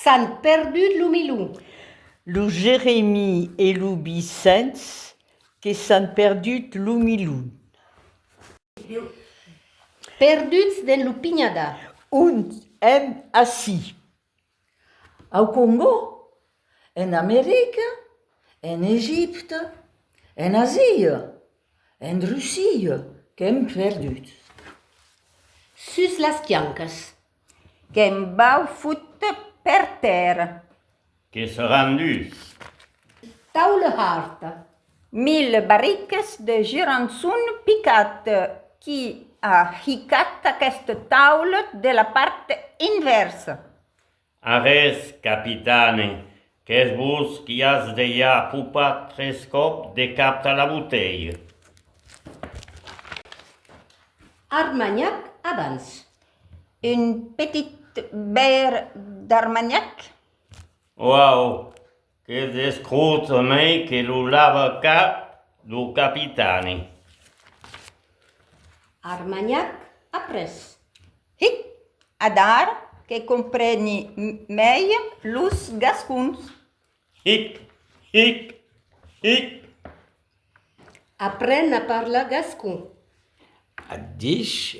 S'an perdut lo milon. Lo Jeremi e lo Vicens que s'an perdut lo milon. Perduts dens lo pinhadar. Ont èm ací? Au Congò, en America, en Egipte, en Asia, en Russia, qu'èm perduts. Sus las quiancas. Qu'èm baufuts per tèrra. Que seràn dus. Tau le hard. Mil barriques de gerançon picat qui a hicat aquest taulet de la part envèrsa. Arrés, capitane, qu'es vos qui as dejà popat tres còp de cap tà la botelha. Armanhac abans. Un petit bèr d'armanhac? Oau! Que descrota mei que lo lava cap lo capitani. Armagnac après. Hic! Adara que compreni mei los gascons. Hic! Hic! Hic! Apren a parlar gascon. Ath dich